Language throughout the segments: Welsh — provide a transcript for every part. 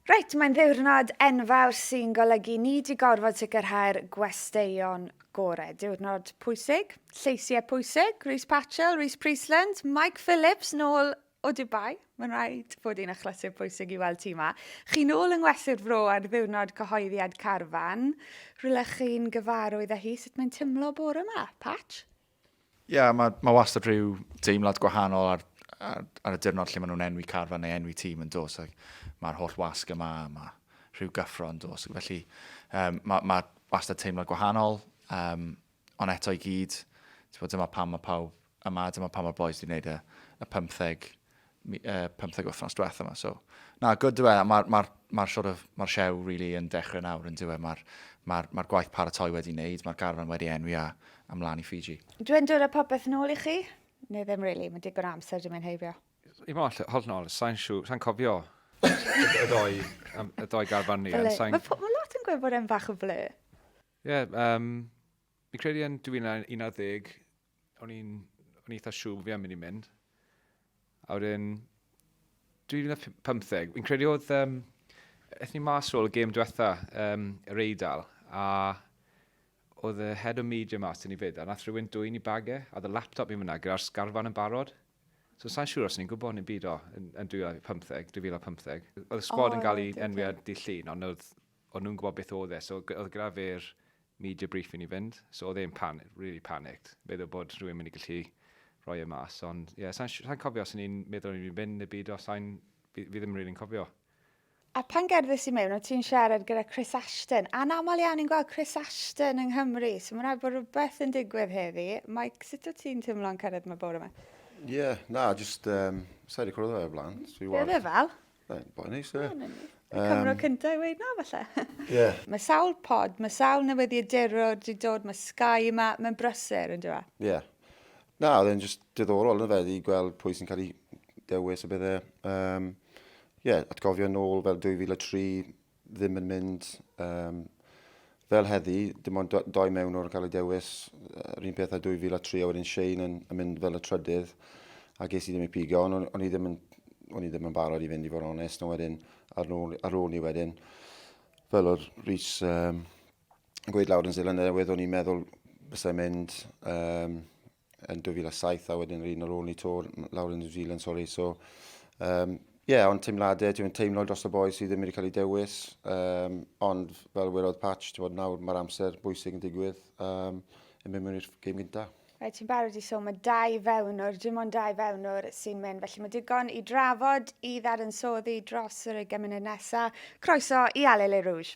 Reit, mae'n ddiwrnod enfawr sy'n golygu ni 'di gorfod sicrhau'r gwesteion gore. Diwrnod pwysig, lleisiau pwysig, Rhys Patchell, Rhys Priestland, Mike Phillips nôl o Dubai. Mae'n rhaid bod hi'n achlysur pwysig i weld ti yma. Chi nôl yng ngwesty'r fro ar ddiwrnod cyhoeddiad Carfan. Rhywle chi'n gyfarwydd â hi, sut mae'n timlo bore yma, Patch? Ie, yeah, mae ma wastad rhyw deimlad gwahanol ar, ar, ar y diwrnod lle maen nhw'n enwi carfa neu enwi tîm yn dos. Mae'r holl wasg yma, mae rhyw gyffro yn dos. Felly, um, mae ma wastad teimlad gwahanol, um, ond eto i gyd, bod, dyma pam mae pawb yma, dyma pam mae'r boys wedi gwneud y, y 15 pymtheg wythnos diwetha yma. So, na, good yw e. Mae'r ma, ma sort of, ma siow really yn dechrau nawr yn diwedd. Mae'r ma, ma gwaith paratoi wedi wneud, mae'r garfan wedi enwi a ymlaen i Fiji. Dwi'n dod â popeth nôl i chi? Neu ddim really, mae digon amser dim yn heibio. I mo, hold nôl, sa'n siw, sa'n cofio y doi, y doi garfan ni. Mae ma lot yn gwybod e'n fach o fle. Ie, yeah, um, fi'n credu yn 2011, o'n i'n o'n eitha siŵr fi am mynd i mynd. A wedyn, 2015, fi'n credu oedd, um, eithaf ni mas ôl y gêm diwetha, um, yr Eidal, a oedd y head o media mas yn ni fyd, a nath rhywun dwy'n i bagau, a oedd y laptop i fyna gyda'r sgarfan yn barod. So sa'n siŵr os ni'n gwybod ni'n byd o yn, yn 2015, 2015. Oedd y sgwad oh, yn cael ei enwi ar di llun, ond oedd O'n nhw'n gwybod beth oedd e, so oedd gyda fe'r media brief i ni fynd, so oedd e'n pan- really panicked, meddwl bod rhywun mynd i gallu rhoi e mas, ond ie, yeah, sa'n sa cofio os o'n i'n meddwl o'n i'n mynd neu byd, os sa'n, fi, fi ddim really'n cofio. A pan gerddys i mewn, o ti'n siarad gyda Chris Ashton. Anaml iawn ni'n gweld Chris Ashton yng Nghymru, so mae'n rhaid bod rhywbeth yn digwydd heddi. Mike, sut o ti'n teimlo'n cyrraedd yma bore yma? Ie, yeah, na, just, um, sa'i wedi cwrdd o'r blaen. Be oedd e fel? Mae'n boi neis, e. Y cyfnod cyntaf i weud na, falle. Yeah. Mae sawl pod, mae sawl newyddiadurwr wedi dod, mae Sky yma, mae'n brysur, yn dyfa? Ie. Yeah. Na, oedd e'n just diddorol yn fe, i gweld pwy sy'n cael ei dewis a bydde. Um, yeah, atgofio nôl fel 2003, ddim yn mynd um, fel heddi, dim ond doi mewn o'r gael ei dewis, yr un peth a 2003 a wedyn Shane yn, yn mynd fel y trydydd, a ges i ddim ei pigo, ond o'n, on i ddim yn o'n i ddim yn barod i fynd i fod yn onest, a wedyn ar ôl, ar ôl ni wedyn, fel o'r Rhys um, gweud lawr yn Zealand newydd, o'n i'n meddwl bysau mynd um, yn 2007 a wedyn yr un ar ôl ni to lawr yn New Zealand, sori. So, um, yeah, ond teimladau, ti'n teimlo dros y boi sydd ddim wedi cael ei dewis, um, ond fel welodd Patch, ti'n bod nawr mae'r amser bwysig yn digwydd, um, yn mynd mewn i'r gêm gyntaf. Mae ti'n barod i so, mae dau fewnwr, dim ond dau fewnwr sy'n mynd, felly mae digon i drafod i ddadansoddi dros yr ugain munud nesaf. Croeso i Ale Le Rouge.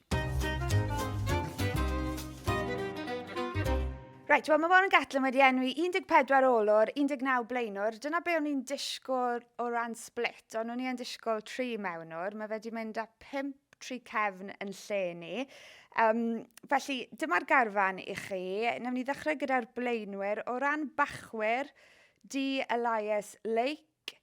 Reit, wel mae Warren Gatland wedi enwi 14 olwr, 19 blaenwr. Dyna be o'n i'n disgwyl o ran split, ond o'n i'n disgwyl tri mewnwr. Mae wedi mynd â 5 tri cefn yn lle ni. Um, felly, dyma'r garfan i chi. Nawr ni ddechrau gyda'r blaenwyr. O ran bachwyr, di Elias Lake,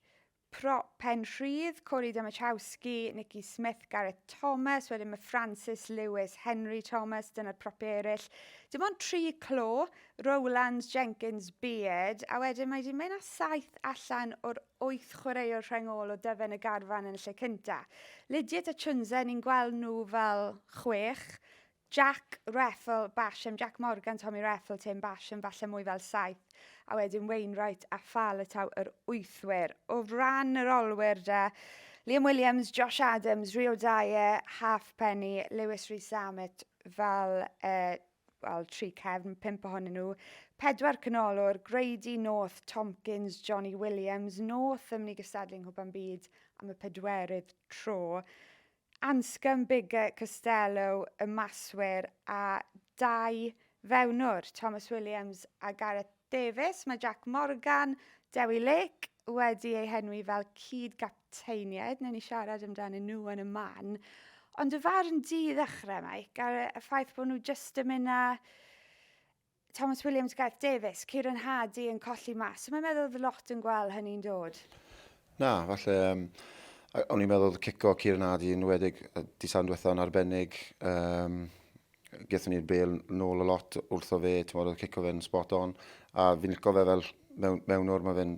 Pro, Penrhydd, Cory Domachowski, Nicky Smith, Gareth Thomas, wedyn mae Francis Lewis, Henry Thomas, dyna'r propiau eraill. Dim ond tri clo, Rowlands, Jenkins, Beard, a wedyn mae wedi mynd â saith allan o'r wyth chwaraewr rhengol o dyfen y garfan yn y lle cyntaf. Lydiate a Chunze, ni'n gweld nhw fel chwech, Jack Reffell, Basham, Jack Morgan, Tommy Reffell, Tim Basham, falle mwy fel saith, a wedyn Wainwright a Faletau yr wythwyr. O ran yr olwyr de, Liam Williams, Josh Adams, Rio Dye, Halfpenny, Lewis Rees-Zammit fel uh, wel, tri cefn, pimp ohonyn nhw, pedwar canolwr, Grady, North, Tompkins, Johnny Williams, North yn mynd i gystadlu yng Nghwpan Byd am y pedwerydd tro. Anscombe Bigger Costello y maswyr a dau fewnwr, Thomas Williams a Gareth Davies. Mae Jac Morgan, Dewi Lake, wedi eu henwi fel cyd-gapteiniaid, newn ni siarad amdanyn nhw yn y man. Ond y farn di ddechrau, Mike, ar y ffaith bod nhw jyst yn mynd â Thomas Williams, Gareth Davies, Kieran Hardy yn colli mas. So mae'n meddwl oedd lot yn gweld hynny'n dod. Na, falle... Um, o'n i'n meddwl oedd cico Kieran Hardy yn wedig disan diwethaf yn arbennig. Um, Gethon ni'r bel nôl a lot wrtho fe, ti'n meddwl, oedd cico fe'n spot on. A fi'n licio fe fel mewn, mewn o'r mae fe'n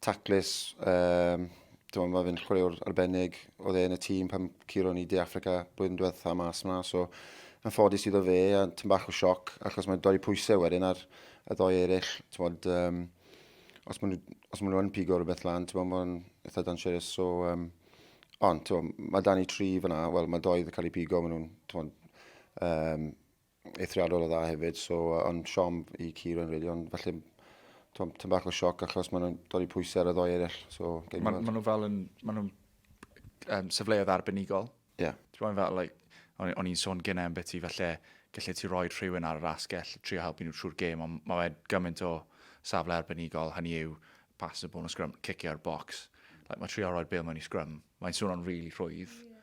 taclus, um, mae fe'n chwaraewr arbennig, oedd e yn y tîm pan curo ni De Africa blwyddyn diwetha mas yma, so yn ffodus iddo fe, a tyn bach o sioc, achos mae'n dod i pwysau wedyn ar y ddoi eraill, tywod, um, os maen nhw, yn pigo rhywbeth lan, tywod, mae'n eitha dangerous, so, um, ond, tywod, mae dan i tri fyna, wel, mae doi wedi cael ei pigo, maen nhw'n, tywod, um, eithriadol o dda hefyd, so uh, ond siom i Kieran really, ond falle tom, tom bach o sioc achos maen nhw'n dod i pwysau ar y ddoi eraill. So, maen ma nhw fel yn, maen nhw'n um, sefleodd arbenigol. Ie. Yeah. Ti'n fel, like, o'n, on i'n sôn gynnau am beth i falle gallu ti roi rhywun ar yr asgell trio helpu nhw trwy'r gêm, ond mae fe gymaint o safle arbenigol, hynny yw pas y bôn o sgrym, cicio'r box. Like, mae trio roi'r bil mewn i sgrym. Mae'n swnio'n rili really rhwydd, yeah.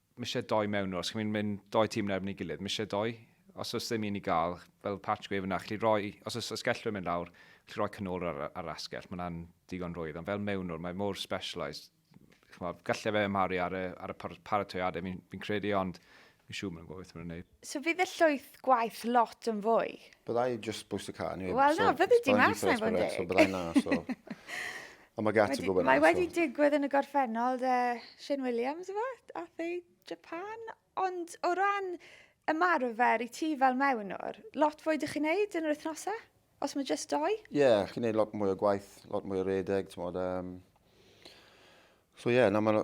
Mae eisiau doi mewn nhw, os chi'n mynd, mynd doi tîm yn erbyn ei gilydd, mae eisiau doi. Os oes ddim un i gael, fel patch gwef yna, chi'n rhoi, os oes asgellwyr yn mynd lawr, chi'n rhoi canol ar, ar asgell, mae hwnna'n digon rwydd, ond fel mewn nhw, mae mor specialised, gallai fe ymharu ar y, ar y paratoiadau, fi'n fi credu, ond fi'n siŵr mae'n gwybod beth mae'n gwneud. So fydd y llwyth gwaith lot yn fwy? Byddai just boost y car anyway. Wel na, fyddi di mas na i fod yn deg. Byddai na, so... Ond mae gati gwybod na. Mae wedi digwydd yn y gorffennol de Shane Williams efo, ath ei Japan. Ond o ran ymarfer i ti fel mewnwr, lot fwy dych chi'n neud yn yr wythnosau? Os mae just doi? Ie, yeah, chi'n neud lot mwy o gwaith, lot mwy o redeg, ti'n modd. Um... So ie, yeah, na mae'n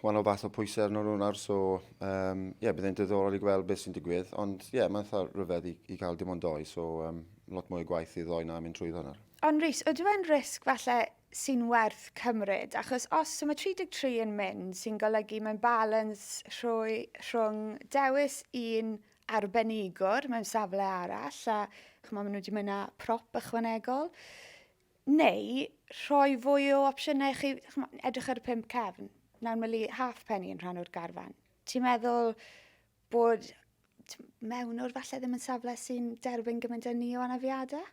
wahanol fath o pwysau arno nhw nawr, so ie, um, yeah, bydd e'n diddorol i gweld beth sy'n digwydd, ond ie, yeah, mae'n eitha rhyfedd i, i cael dim ond doi, so um, lot mwy o gwaith i ddoi na mynd trwy hwnna. Ond Rhys, ydw e'n risg falle sy'n werth cymryd, achos os so mae 33 yn mynd, sy'n golygu mae'n balans rhwng dewis un arbenigwr mewn safle arall a chymod, maen nhw wedi mynd â prop ychwanegol. Neu rhoi fwy o opsiynau chi, chymod, edrych ar y pump cefn. Nawr mae half penny yn rhan o'r garfan. Ti'n meddwl bod mewnwr falle ddim yn safle sy'n derbyn gymaint â ni o anafiadau?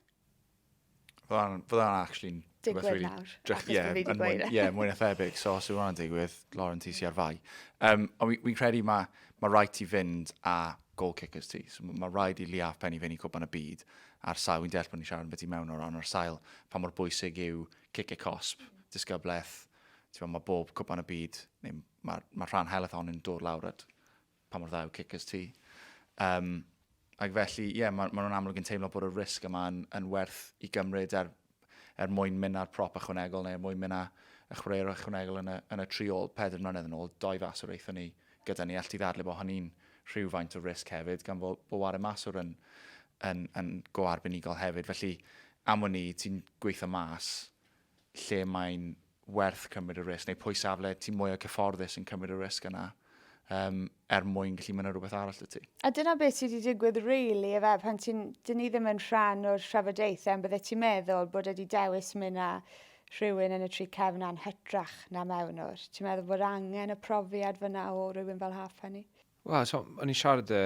Fydda'n fydda actually'n... Digwydd really nawr, achos yeah, fi wedi gweud e. Ie, mwy na thebyg, so os yw hwnna'n digwydd, Lauren, ti si ar fai. Um, ond fi'n fi credu mae ma rhaid ti fynd a goal kickers ti. So, mae rhaid i Liaf Penny fynd i cwpan y byd ar sail, fi'n deall bod ni'n siarad yn beth i mewn o ran, ar sail pa mor bwysig yw cic y cosp, disgybleth, ti'n mae bob cwpan y byd, neu mae ma rhan heleth hon yn dod lawr at Pa mor dda yw Kickers ti? Yym, ac felly, ie, yeah, maen ma nhw'n amlwg yn teimlo bod y risg yma yn, yn werth i gymryd er, er mwyn mynd â'r prop ychwanegol neu er mwyn mynd â y chwaraewr ychwanegol yn y, yn y tri ôl. Pedr mlynedd yn ôl, doi fas o'r eithon ni gyda ni. All ti ddadle bod hynny'n rhywfaint o risg hefyd, gan fod bo wario maswr yn, yn, yn go arbenigol hefyd. Felly, am wn i, ti'n gweithio mas lle mae'n werth cymryd y risg, neu pwy safle ti mwyaf cyfforddus yn cymryd y risg yna, um, er mwyn gallu mynd ar rhywbeth arall y ti. A dyna beth sydd wedi digwydd really, efe, pan ti'n, dyn ni ddim yn rhan o'r trafodaethau, ond bydde ti'n meddwl bod wedi dewis mynd â rhywun yn y tri cefn a'n hytrach na mewn o'r. Ti'n meddwl bod angen y profiad fyna o rhywun fel Halfpenny? Wel, so, o'n i'n siarad y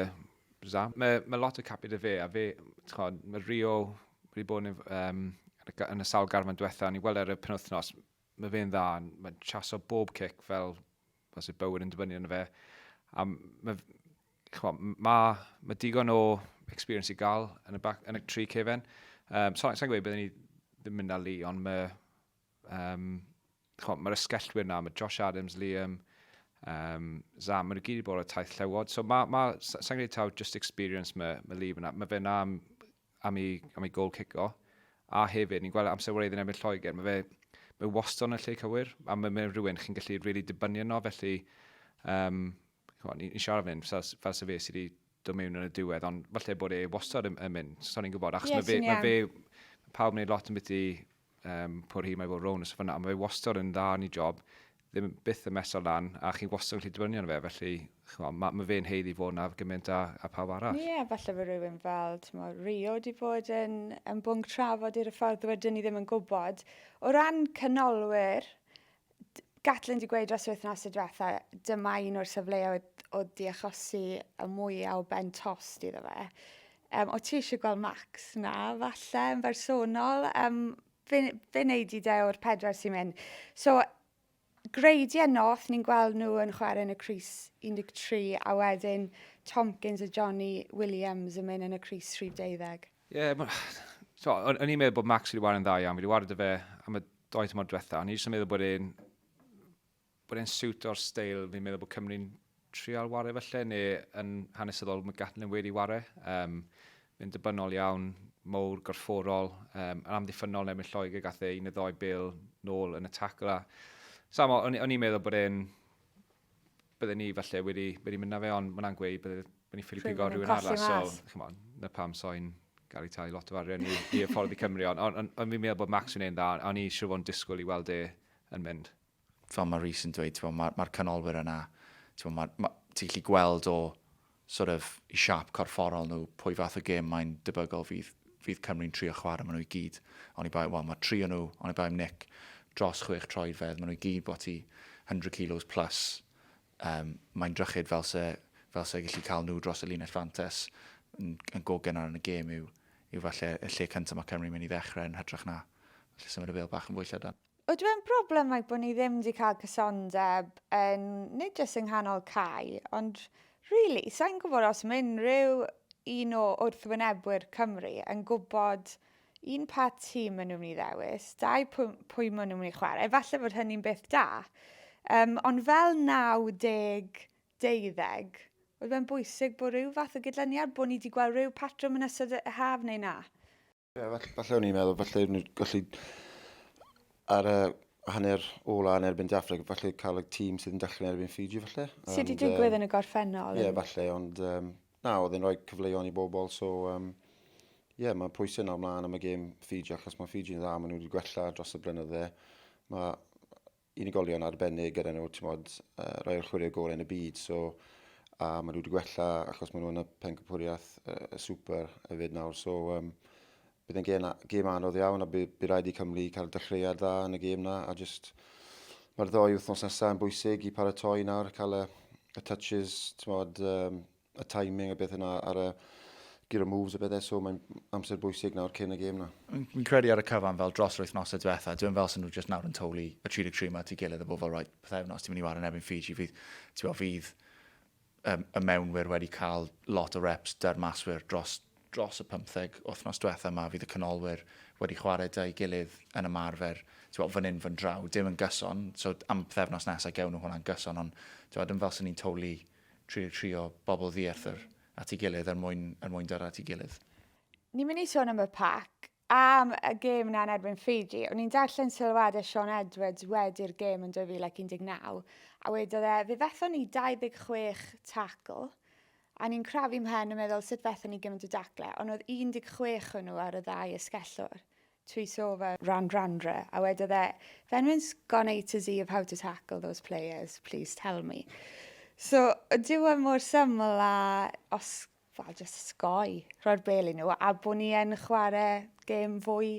Za. Mae, mae lot o capiau da fe, a fe, chod, mae Rio wedi bod yn, um, yn y sawl garfan diwetha, o'n i'n weld e ar y penwthnos, mae fe'n dda, mae'n chaso bob cic fel os yw bywyd yn dibynnu arno fe. A mae, chwa, mae, mae digon o experience i gael yn y, back, yn y tri cefen. Um, so, sa'n gweud byddwn ni ddim mynd â li, ond mae, Yym, ch'mo', ma'r ysgellwyr 'na, ma' Josh Adams, Liam, um, Zam, ma' nhw gyd wedi bod ar taith llewod. So ma', ma', sa i'n gwneud taw just experience ma', ma' Liam yna. Mae fe 'na am, am ei, am ei gol cico. A hefyd, ni'n gweld amser wraidd yn ebyn Lloegr, mae fe, mae wastad yn y lle cywir, a mae mae rhywun chi'n gallu rili really dibynnu yno, felly um, chwa, ni'n ni siarad fan fel, fel se fe sydd wedi dod mewn yn y diwedd, ond falle bod e wastad yn, yn mynd, so ni'n gwybod, achos yes, mae fe, mae fe, pawb wneud lot yn byd i um, pwyr hi, mae fod rown ys fyna, ond mae fe wastad yn dda yn ei job, ddim byth yn mesol lan, a chi'n wastad yn gallu dibynnu arno fe, felly chwa, mae, mae fe'n heiddi fod na gymaint a, a pawb arall. Ie, yeah, falle bod rhywun fel, ti'n mo, Rio wedi bod yn, yn bwnc trafod i'r ffordd wedyn ni ddim yn gwybod. O ran canolwyr, Gatlin wedi gweud dros wythnos y diwetha, dyma un o'r safleoedd o diachosi y mwyaf o ben tost iddo fe. Um, o ti eisiau gweld Max? Na, falle, yn bersonol. Um, fe, fe wneud i de o'r pedwar sy'n mynd. So, greidiau noth, ni'n gweld nhw yn chwarae yn y Cris 13, a wedyn Tomkins a Johnny Williams yn mynd yn y Cris 30. Ie, yeah, so, o'n i'n meddwl bod Max wedi wario'n dda iawn. Fi wedi wario dy fe am y doi tymor diwetha. O'n i jyst yn meddwl bod e'n bod e'n siwt o'r steil fi'n meddwl bod Cymru'n trial ware felly, neu yn hanesyddol mae Gatlin wedi ware. Um, mae'n dibynol iawn, mowr, gorfforol, um, yn amddiffynol neu mynd Lloegr gath e un o ddoi bil nôl yn y tacl. A, Samo, o'n i'n meddwl bod e'n bydden ni falle wedi, wedi mynd na fe, ond mae'n angweud bydden ni ffili pigo rhywun arall. So, chymod, on, na pam so'n gael ei tai lot o farion i, i ffordd i Cymru, ond on, on, on fi'n meddwl bod Max yn ein dda, ond ni siw fo'n disgwyl i weld e yn mynd. Fel mae Rhys yn dweud, mae'r ma canolwyr yna, ti'n ma, ma, ti gallu gweld o sort of, i siâp corfforol nhw, pwy fath o gêm mae'n debygol fydd, fydd Cymru'n trio chwarae maen nhw i gyd. Oni bai, wel, mae tri o nhw, oni bai am Nick, dros chwech troedfedd, maen nhw i gyd bod ti 100 kilos plus. Um, mae'n drychyd fel se, fel se gallu cael nhw dros y linell fantes yn, yn go gynnar yn y gêm yw, yw falle y lle cyntaf mae Cymru'n mynd i ddechrau yn hytrach na lle symud y fel bach yn fwy llydan. Oedw e'n broblem like bod ni ddim 'di cael cysondeb yn nid jyst yng nghanol Cai, ond rili, sa'n gwybod os mae unrhyw un o wrthwynebwyr Cymru yn gwybod un pa tîm maen nhw'n mynd i ddewis, dau pwy, pwy maen nhw'n mynd i chwarae. Efallai fod hynny'n beth da. Um, ond fel 90 deuddeg, oedd fe'n bwysig bod rhyw fath o gydlyniad, bod ni wedi gweld rhyw patrwm yn ystod y haf neu na? Ie, falle, falle o'n i'n meddwl, falle o'n i'n gallu ar y hanner ola yn erbyn Dafreg, falle cael y tîm sydd yn dechrau yn erbyn Fiji, falle. Sydd wedi digwydd um, yn y gorffennol? Ie, yeah, falle, ond um, na, oedd e'n rhoi cyfleuon i bobl, so... Um, Ie, yeah, mae pwysau nawr mlaen am y gêm Fiji, achos mae Fiji'n dda, maen nhw wedi gwella dros y blynydde. Mae unigolion arbennig gyda nhw, ti'n modd, uh, rhoi chwarae gorau yn y byd, so a maen nhw wedi gwella achos maen nhw yn y pencampwriaeth uh, y super hefyd nawr, so um, bydd yn gêm, gêm anodd iawn a bydd, by rhaid i Cymru cael dechreuad dda yn y gêm na a just mae'r ddoi wythnos nesaf yn bwysig i paratoi nawr, cael y, y touches, ti'n modd, um, y timing a beth yna ar y gyda moves a bethau, so mae'n amser bwysig nawr cyn y gêm na. Fi'n credu ar y cyfan fel dros roedd nos y diwetha, dwi'n fel sy'n nhw jyst nawr yn toli y 33 yma ti gilydd y bobl rhaid pethau nos ti'n mynd i wario yn ebyn Fiji fydd, ti'n bod, fydd um, y mewnwyr wedi cael lot o reps dy'r maswyr dros, dros y 15 wythnos diwetha yma fydd y canolwyr wedi chwarae dau gilydd yn ymarfer ti'n bod, fan hyn fan draw, dim yn gyson, so am pethau nos nesaf gewn nhw hwnna'n gyson, ond ti'n bod, yn fel sy'n ni'n toli Trio, trio, bobl ddiarth yr at ei gilydd er mwyn, er mwyn dyrra at ei gilydd. Ni'n mynd i sôn am y pac, am y gêm yna yn erbyn Fiji. O'n i'n darllen sylwadau Sean Edwards wedi'r gêm yn 2019, a wedodd e, fe fethon ni 26 tacl, a ni'n crafu mhen yn meddwl sut fethon ni gymaint o dacle, ond oedd 16 hwnnw ar y ddau esgellwr. trwy sôn fel ran randre a wedodd e if anyone's gone A to Z of how to tackle those players please tell me. So dyw e mor syml a os fel jyst sgoi rhoi'r bel i nhw a bod ni yn chwarae gêm fwy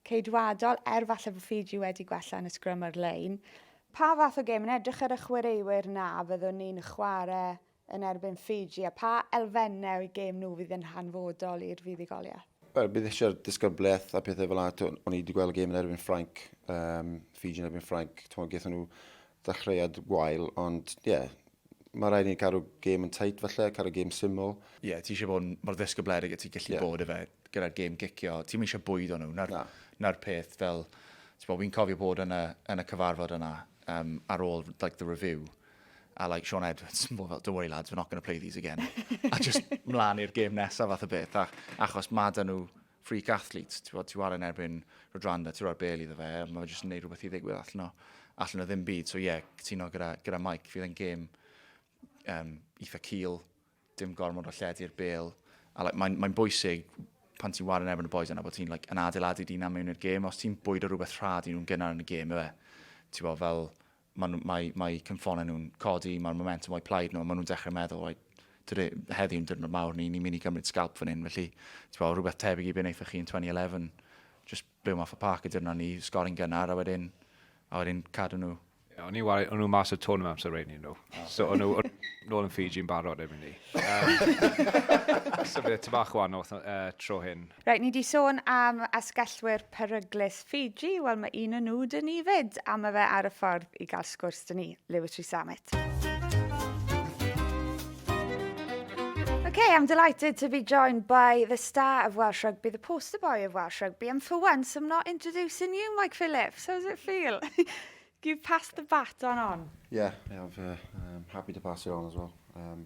ceidwadol er falle bod Fiji wedi gwella yn y sgrym ar-lein. Pa fath o gêm yn edrych ar y chwaraewyr 'na fyddwn ni'n chwarae yn erbyn Ffiji a pha elfennau o'u gêm nhw fydd yn hanfodol i'r fuddugoliaeth? Wel, bydd eisiau'r disgyblaeth a pethau fel yna. O'n i wedi gweld y gêm yn erbyn Ffrainc, um, Fiji yn erbyn Ffrainc. Twon, gaethon nhw ddechreuad gwael, ond ie, yeah, mae rhaid ni'n cadw gêm yn tight falle, cadw gêm syml. Ie, yeah, ti eisiau bod mor ddisgybledig y ti gallu yeah. bod efe gyda'r gêm gicio. Ti'n eisiau bwyd o'n nhw. Na'r, na. na peth fel, ti'n bod, fi'n cofio bod yn y, yn y cyfarfod yna um, ar ôl like, the review. a like Sean Edwards, mor fel, don't worry lads, we're not going to play these again. a just mlaen i'r gêm nesaf fath o beth, a, achos ma dyn nhw freak athletes, ti'n bod, ti war yn erbyn Rodrando, ti'n rhoi'r bel iddo fe, a mae'n just yn neud rhywbeth i ddigwydd allan o, allan o ddim byd. So ie, yeah, cytuno gyda, gyda Mike, fydd yn gêm um, eitha cil, dim gormod o lledu'r bel, a like, mae'n mae bwysig pan ti'n war yn erbyn y boys yna bod ti'n like, yn adeiladu dyn am mewn i'r gêm, os ti'n bwyd o rhywbeth rhad i nhw'n gynnar yn y gêm, efe, ti'n bod fel, Mae, mae, mae cymffonau nhw'n codi, mae'r momentum o'i plaid nhw, maen nhw'n dechrau meddwl, right, today, heddiw yn dyrnod mawr, ni'n ni mynd i gymryd scalp fan hyn, felly, ti'n bod, rhywbeth tebyg i beth wnaethoch chi yn 2011, just byw math o parc y dyrnod ni, sgori'n gynnar, a wedyn, a wedyn cadw nhw. Yeah, o'n i'n wario, o'n nhw mas o tôn amser rein i nhw. Oh. So o'n nhw, nôl yn Fiji yn barod efo'n ni. Um, so fe, ty bach wahanol uh, tro hyn. Reit, ni di sôn am asgellwyr peryglus Fiji. Wel, mae un o nhw dyn ni fyd, a mae fe ar y ffordd i gael sgwrs dyn ni, Lewis Rhys Samet. Okay, I'm delighted to be joined by the star of Welsh rugby, the poster boy of Welsh rugby, and for once I'm not introducing you, Mike Phillips. How does it feel? You've passed the baton on. Yeah, yeah I'm uh, um, happy to pass it on as well. Um,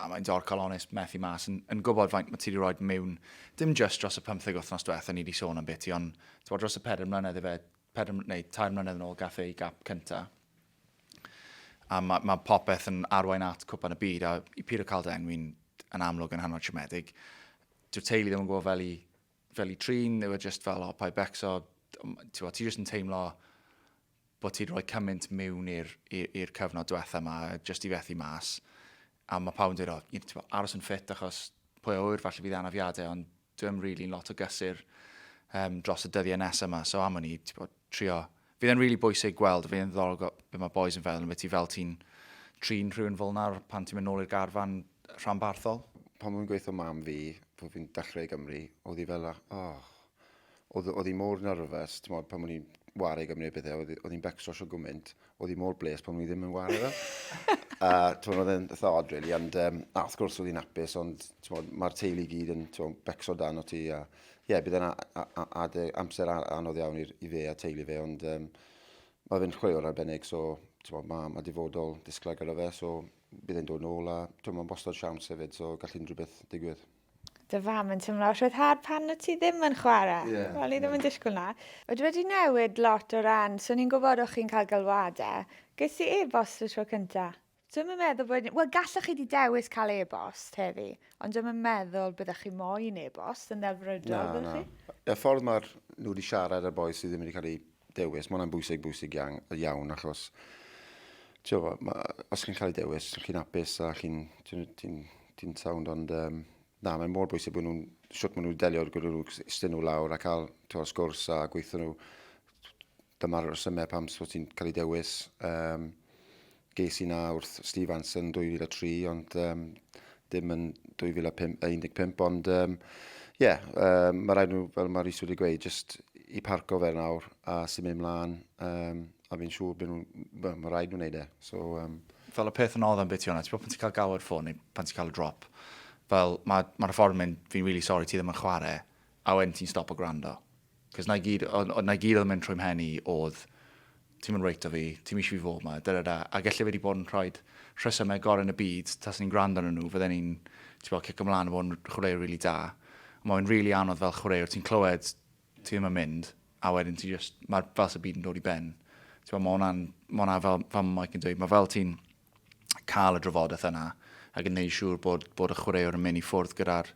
A mae'n dorcal onest methu mas yn, yn gwybod faint mae ti wedi rhoi mewn, dim just dros y pymtheg wythnos diwetha ni wedi sôn am beth ti, ond ti'n dros y pedair mlynedd efe, pedair, neu tair mlynedd yn ôl gath ei gap cynta. A mae, mae popeth yn arwain at cwpan y byd, a i pyr o cael dy enwi'n yn amlwg yn hanner siomedig. Dyw'r teulu ddim yn gwybod fel i, fel i trin, ddew e just fel, o, pa i becso, ti, ti jyst yn teimlo bod ti'n rhoi cymaint mewn i'r cyfnod diwetha yma, jyst i fethu mas. A mae pawb yn dweud, oh, ti'n bod, aros yn ffit achos pwy oer falle bydd anafiadau, ond dwi'n rili'n really lot o gysur um, dros y dyddiau nesaf yma. So am o'n i, ti'n bod, trio. Fydd e'n rili really bwysig gweld, fydd e'n ddorol beth mae boys yn feddwl, yn beth ti fel ti'n trin rhywun fel nawr pan ti'n mynd nôl i'r garfan rhanbarthol. Pan mae'n gweithio mam fi, pan fi'n dechrau i Gymru, oedd hi fel, oh, oedd, oedd hi mor nerfus, ti'n modd, pan o'n i'n wario gymaint o bethau, oedd hi'n becso sio gwmynt, oedd hi mor bles pan o'n i ddim yn wario fe. a ti'n oedd e'n eitha odd, really, ond um, a wrth gwrs oedd hi'n apus, ond mae'r teulu gyd yn ti'n becso dan o ti, a ie, yeah, bydd yna amser anodd iawn i, i fe a teulu fe, ond um, mae fe'n chwaraewr arbennig, so mae ma difodol disglair gyda fe, so bydd e'n dod nôl a mae'n bostod siawns hefyd, so gall unrhyw beth digwydd. Dy fam yn teimlo rhyddhad pan wyt ti ddim yn chwarae. Yeah, Wel, ni ddim yeah. yn disgwyl na. Oedd wedi newid lot o ran, so ni'n gwybod o'ch chi'n cael galwadau. Ges i e-bost y tro cyntaf. Dwi'm yn meddwl bod... Wel, gallwch chi 'di dewis cael e-bost heddi, ond dwi'm yn meddwl byddech chi moyn e-bost yn ddelfrydol, byddwch chi? Na, na. Y ffordd mae'r nhw wedi siarad â'r bois sydd ddim wedi cael eu dewis. Mae hwnna'n bwysig, bwysig iawn, iawn achos tio, ma, os chi'n cael ei dewis, chi'n hapus a chi'n ti, ti, ti sound, ond um, na, mae'n mor bwysig bod nhw'n, siwt maen nhw'n delio gyda nhw, ystyn nhw lawr a cael tio, sgwrs a gweithio nhw. Dyma'r resymau pam so ti'n cael ei dewis. Um, Ges i 'na wrth Steve Anson 2003 ond um, dim yn 2015 ond um, yeah, um, mae rhaid nhw, fel mae Rhys wedi gweud, just i parco fe nawr a sy'n mynd mlaen um, a fi'n siŵr bod nhw'n, well, mae rhaid nhw'n neud e. So, um... Fel y peth yn odd am beth ti o'na, ti bod pan ti'n cael gawer ffôn neu pan ti'n cael y drop, fel mae'r ma ffordd mynd, fi'n really sorry, ti ddim yn chwarae, a wedyn ti'n stop o gwrando. Cos 'na i gyd, o- o- 'na i gyd oedd yn mynd trwy 'mhen i oedd, ti'm yn reit 'da fi, ti'm eisiau fi fod 'ma, da da da. A gelle fe 'di bod yn rhaid rhesymau gorau yn y byd, tasen ni'n gwrando arnyn nhw, fydden ni'n, ti'n gwbod, cico mlaen a bod yn chwaraewr rili da. Ond mae fe'n rili anodd fel chwaraewr, ti'n clywed, ti ddim yn mynd, a wedyn ti jyst, mae'r fel sy'n byd yn dod i ben. Ti'n gwbod, mae hwnna'n, mae hwnna fel, fel mae Mike yn dweud, mae fel ti'n, cael y drafodaeth yna ac yn gwneud yn siŵr bod, bod y chwaraewr yn mynd i ffwrdd gyda'r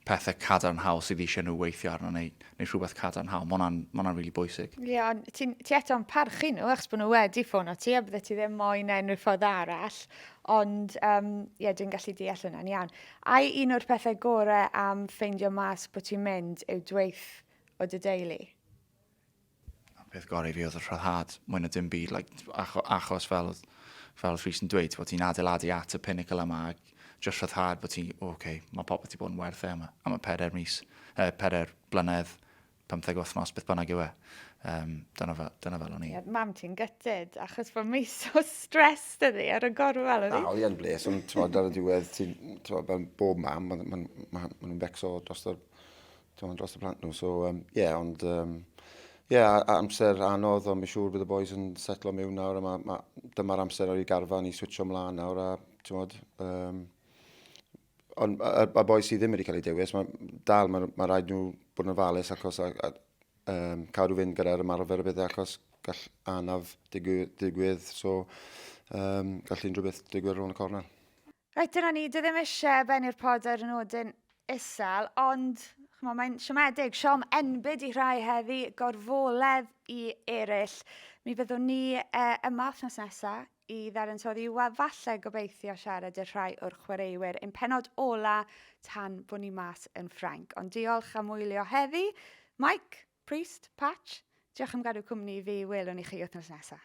pethau cadarnhaol sydd eisiau nhw weithio arno neu, neu rhywbeth cadarnhaol. Mae hwnna'n ma rili really bwysig. Ie, yeah, ond ti, ti eto'n parchu nhw achos bod nhw wedi ffôn o ti a bydde ti ddim moyn e unrhyw ffordd arall. Ond, ie, um, yeah, dwi'n gallu deall hwnna'n iawn. Ai un o'r pethau gorau am ffeindio mas bod ti'n mynd yw dweith o dy deulu? A peth gorau i fi oedd y rhyddhad, mwy na dim byd, like, acho, achos fel, fel Rhys yn dweud, bod ti'n adeiladu at y pinnacle yma, ac just rhyddhad bod ti'n, oh, okay, mae popeth wedi bod yn werth e yma, am y pedair mis, eh, pedair blynedd, 15 wythnos, beth bynnag yw e. Um, dyna, fe, dyna fel o'n i. Yeah, mam ti'n gytid, achos bod mi so stres dydi ar y gorwel o'n i. Na, oedd i'n bles, ond ti'n ar y diwedd, ti'n, fel bob mam, maen nhw'n ma, ma, ma becso dros y Dim ond dros y plant nhw, so um, yeah, ond um, yeah, amser anodd, ond mae'n siŵr bydd y boys yn setlo mewn nawr, a ma, ma, dyma'r amser ar ei garfan i switcho mlaen nawr, a ti'n modd, um, ond y, y boys sydd ddim wedi cael ei dewis, mae dal, mae, ma rhaid nhw bod yn falus achos a, a, um, cadw fynd gyda'r ymarfer y bydde achos gall anaf digwydd, digwydd so um, gall unrhyw beth digwydd rhwng y cornel. Reit, dyna ni. Dwi ddim eisiau bennu'r pod ar y nodyn isel, ond chymod, mae'n siomedig. Siom enbyd i rhai heddi, gorfoledd i eraill. Mi fyddwn ni e, yma wythnos nesaf i ddarantoddi a falle gobeithio siarad i'r rhai o'r chwaraewyr yn penod ola tan bod ni mas yn Ffrainc. Ond diolch am wylio heddi. Mike, Priest, Patch, diolch am gadw cwmni fi. Welwn i chi wythnos nesaf.